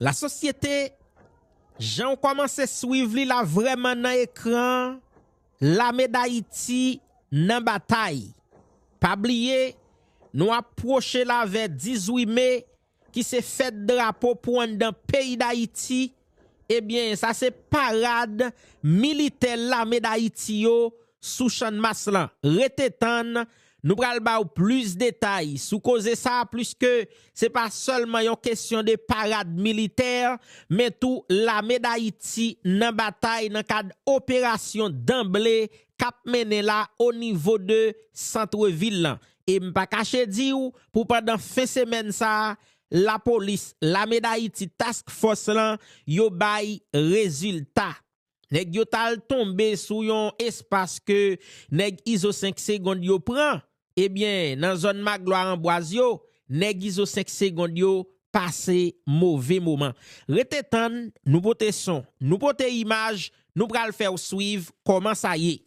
La sosyete janw komanse swiv li la vreman nan ekran lame dayiti nan batay pa bliye nou ap pwoche lave 10 wi me ki se fèt drapo pou anndan peyi dayiti ebyen sa se parad militè lame dayiti yo sou channmas lan rete tann Nou pral ba ou plis detay sou koze sa pliske se pa sèlman yon kesyon de parad militè men tou lame Dayiti nan batay nan kad operasyon danble k ap mennen la o nivo de santre vil lan e m pa kache di w pou pandan fen semèn sa lapolis lame Dayiti task fòs lan yo bay rezilta. Nèg yo ta al tonbe sou yon espas ke nèg Izo 5 segond yo pran, ebyen nan zòn Maglwa Anbwaz yo, nèg Izo 5 segond yo pase move moman. Rete tann, nou pote son, nou pote imaj, nou pral fèw swiv kòman sa ye.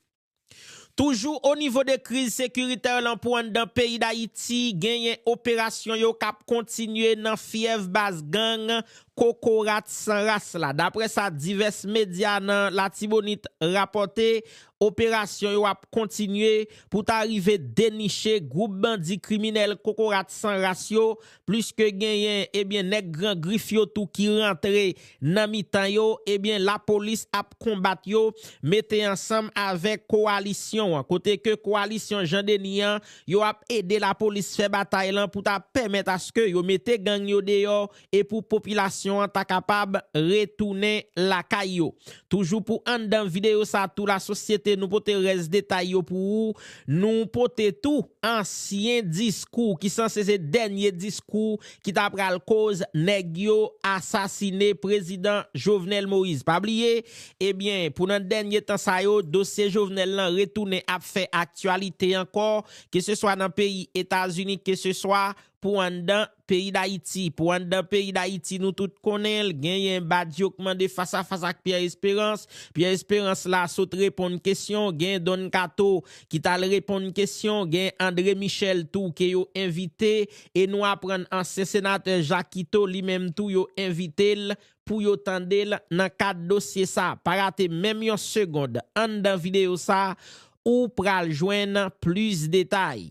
Toujou o nivo de kriz sekiritè lan pou anndan peyi Dayiti genyen operasyon yo kap kontinye nan fyèv baz gang kokorat san ras la. Daprè sa divès medya nan Latibonit rapòte, operasyon yo ap kontinye pou ta rive deniche gwoup bandi kriminèl kokorat san ras yo plis ke genyen ebyen nèg gran grif yo tou ki rantre nan mitan yo ebyen lapolis ap konbat yo mete ansanm avèk kowalisyon an kote ke kowalisyon Jean Denis an yo ap ede lapolis fè batay lan pou ta pèmèt aske yo mete gang yo deyò e pou popilasyon an ta kapab retounen lakay yo. Toujou pou anndan videyo sa tou la sosyete nou pote rès detay yo pou ou. Nou pote tou ansyen diskou ki sanse se dènye diskou ki ta pral koz nèg yo asasine prezidan Jovenel Moïse. Pa bliye, ebyen pou nan dènye tan sa yo dosye Jovenel lan retounen ap fè aktyalite ankò, keseswa nan peyi Etazini, keseswa pou anndan peyi Dayiti. Pou anndan peyi Dayiti nou tout konnen l, genyen Badio k mande fas a fas ak Pyè Esperans. Pyè Esperans la sot reponn kesyon, genyen Don Kato ki t al reponn kesyon, genyen Andre Michel tou ke yo envite e nou aprann ansyen senatè Jakito li menm tou yo envite l pou yo tande l nan kad dosye sa. Pa rate menm yon segond anndan videyo sa ou pral jwenn plis detay.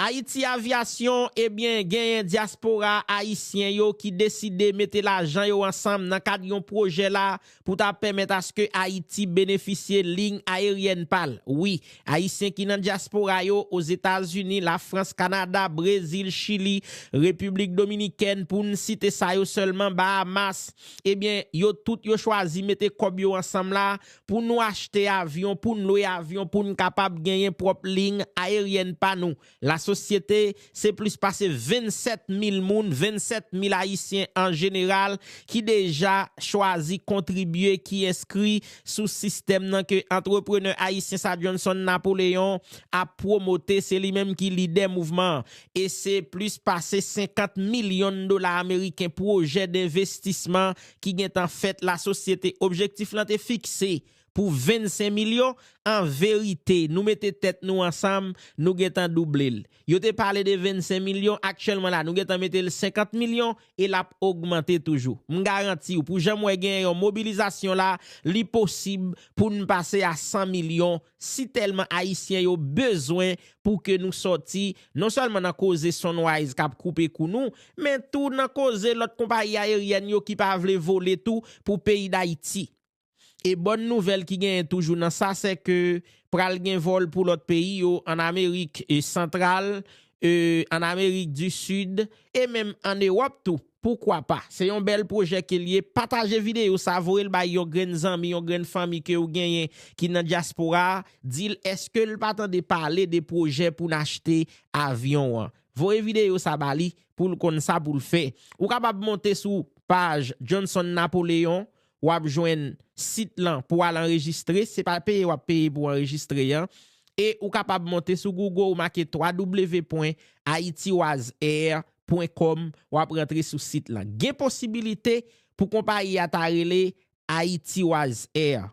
Ayiti Avyasyon ebyen genyen dyaspora ayisyen yo ki deside mete lajan yo ansanm nan kad yon pwojè la pou ta pèmèt aske Ayiti benefisye liy ayeryèn pa l. Wi, Ayisyen ki nan dyaspora yo, Ozetazini, Lafrans, Kanada, Brezil, Chili, Repiblik Dominikèn, pou n site sa yo sèlman, Bahamas, ebyen, yo tout yo chwazi mete kòb yo ansanm la pou nou achte avyon, pou n lwe avyon pou n kapab genyen pwòp liy ayeryèn pa nou. Lasosyete, se plis pase 27 mil moun, 27 mil ayisyen an jeneral, ki deja chwazi kontribye, ki enskri sou sistèm nan ke antreprenè ayisyen sa Johnson Napoleon ap pwomote, se li menm ki lidè mouvman an. E se plis pase 50 milyon dola ameriken pwojè denvestisman ki gentan fèt lasosyete. Objektif lan te fikse pou 25 milyon, an verite nou mete tèt nou ansanm nou gentan double l. Yo te pale de 25 milyon aktyèlman la nou gentan mete l 50 milyon e l ap ogmante toujou. M garanti w pou jan m wè genyen yon mobilizasyon la li posib pou n pase a 100 milyon si tèlman ayisyen yo bezwen pou ke nou sòti non sèlman nan koze Sunrise k ap koupe kou nou men tou nan koze lòt konpayi ayeryèn yo ki pa vle vole tou pou peyi Dayiti. E bòn nouvèl ki genyen toujou nan sa se ke pral gen vòl pou lòt peyi yo an Amerik santral, an Amerik di Sid e menm an Ewòp tou. Poukwa pa? Se yon bèl pwojè ke l ye. Pataje videyo sa, voye l bay yon grenn zanmi, yon grenn fanmi ke ou genyen ki nan dyaspora a, di l eske l pa tande pale de pwojè pou n achte avyon an. Voye videyo sa ba li pou l konn sa pou l fè. Ou kapab monte sou paj Johnson Napoléon wap jwenn sit lan pou al anrejistre, se pa peye wap peye pou anrejistre an, e ou kapab monte sou Google ou make www.haitiwasair.com wap rantre sou sit lan. Gen posibilite pou konpayi a ta rele Haitiwasair,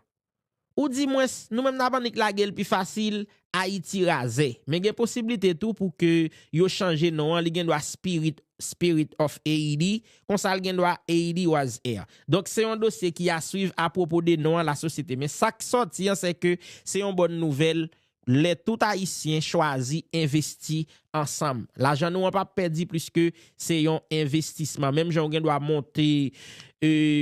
Ou di mwens, nou menm nap annik lage l pi fasil, Ayiti razè. Men gen posiblite tou pou ke yo chanje non an, li gen dwa Spirit, Spirit of Haiti, konsa l gen dwa Haiti was here. Donk se yon dosye ki a swiv apwopo de non an la sosyete. Men sa k sòti an sè ke se yon bòn nouvèl lè tout Ayisyen chwazi envesti ansanm. Lajan nou an pa p pèdi pliske se yon envestisman. Menm jan ou gen dwa monte,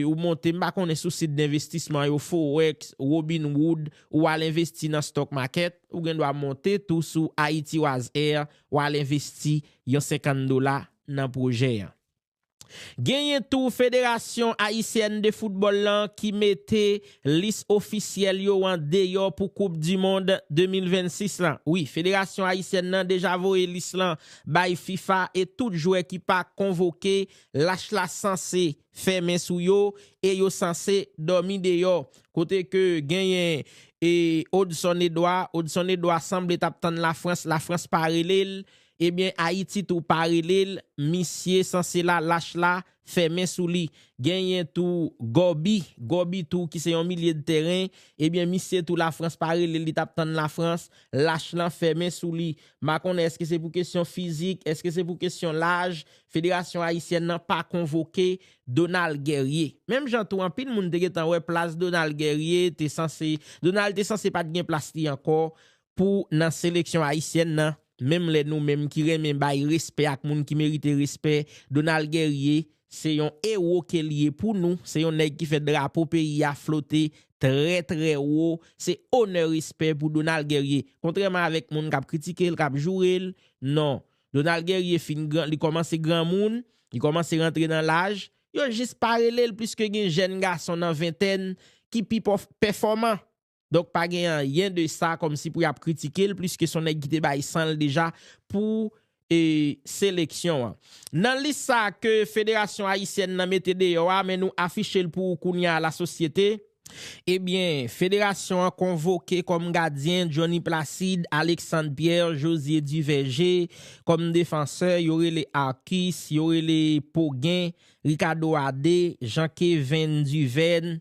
ou monte m pa konnen sou sit denvestisman yo, Forex, Robinhood, ou al envesti nan stock market, ou gen dwa monte tou sou Haitiwazair, ou al envesti yon 50 dola nan pwojè an. Genyen tou Federasyon Ayisyèn de Foutbòl lan ki mete lis ofisyèl yo an deyò pou koup du mond 2026 lan. Wi, Federasyon Ayisyèn nan deja voye lis lan bay fifa e tout jwè ki pa konvoke lach la sanse fè men sou yo e yo sanse dòmi deyò. Kote ke genyen Odson Edouard, Odson Edouard sanble tap tann Lafrans, Lafrans pa rele l Ebyen Haiti tou pa relel misye sanse la lach la fèmen sou li genyen tou Gobi Gobi tou ki se yon milye de tèren ebyen misye tou la France pa relel li tap tann la France lach lan fèmen sou li m pa konnen eske se pou kesyon fizik eske se pou kesyon laj federasyon ayisyèn nan pa konvoke Donald Guerrier menm jan tou anpil moun te gentan wè plas Donald Guerrier te sanse Donald te sanse pat gen plas li ankò pou nan seleksyon ayisyèn nan, menm lè nou menm ki renmen bay respè ak moun ki merite respè, Donald Guerrier, se yon ewo ke li ye pou nou, se yon nèg ki fè drapo peyi a flote trè trè wo, se onè respè pou Donald Guerrier. Kontrèman avèk moun kap kritike l, kap joure l, non, Donald Guerrier fin gran, li kòmanse granmoun, li kòmanse rantre nan laj, yo jis pa rele l pliske gen jèn gason nan ventèn ki pi pèfòman. Donk pa gen anyen de sa kòmsi pou yap kritikel pliske son nèg ki te bay san l deja pou seleksyon an. Nan lis sa ke Federasyon Ayisyèn nan mete deyò a men nou afiche l pou ou kounye a lasosyete, ebyen Federasyon an konvoke kòm gadyen Johnny Placide, Alexandre Pierre, Josier Duverger, kòm defansè yo rele Arcus, yo rele Pogen, Ricardo Adé, Jean Kevin Duverne,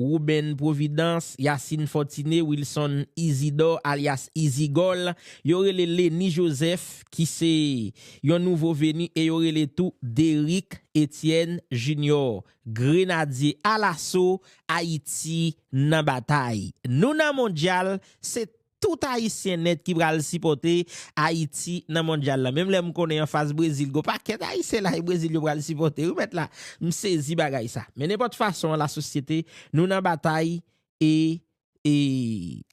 Ruben Providence, Yacine Fortuné, Wilson Isidore alyas Izigòl, yo rele Lenny Joseph ki se yon nouvo veni e yo rele tou Derrick Etienne Junior, Grenadye Alaso, Ayiti nan batay. Nou nan Mondyal, se Tout ayisyen nèt ki pral sipòte ayiti nan mondyal la menm lè m konnen anfas brezil gon pakèt ayisyen la e brezil yo pral sipòte wi mèt la m sezi bagay sa men nenpòt fason an la sosyete nou nan batay e e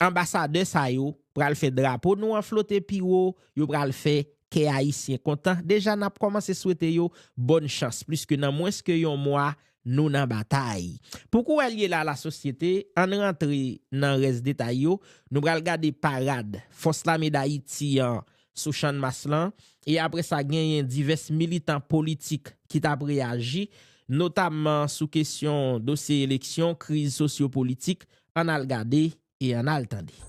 anbasadè sa yo pral fè drapo nou an flote pi wo yo pral fè kè ayisyen kontan deja nap kòmanse swete yo bòn chans pliske nan mwens ke yon mwa Nou nan batay. Pou kou el ye la la sosyete, ann rantre nan rès detay yo, nou pral gade parad Fòs Lame Dayiti an sou Channmas lan, e apre sa genyen divès militan politik ki t ap reyaji, notamman sou kesyon dosye eleksyon, kriz sosyo-politik, ann al gade e ann al tande.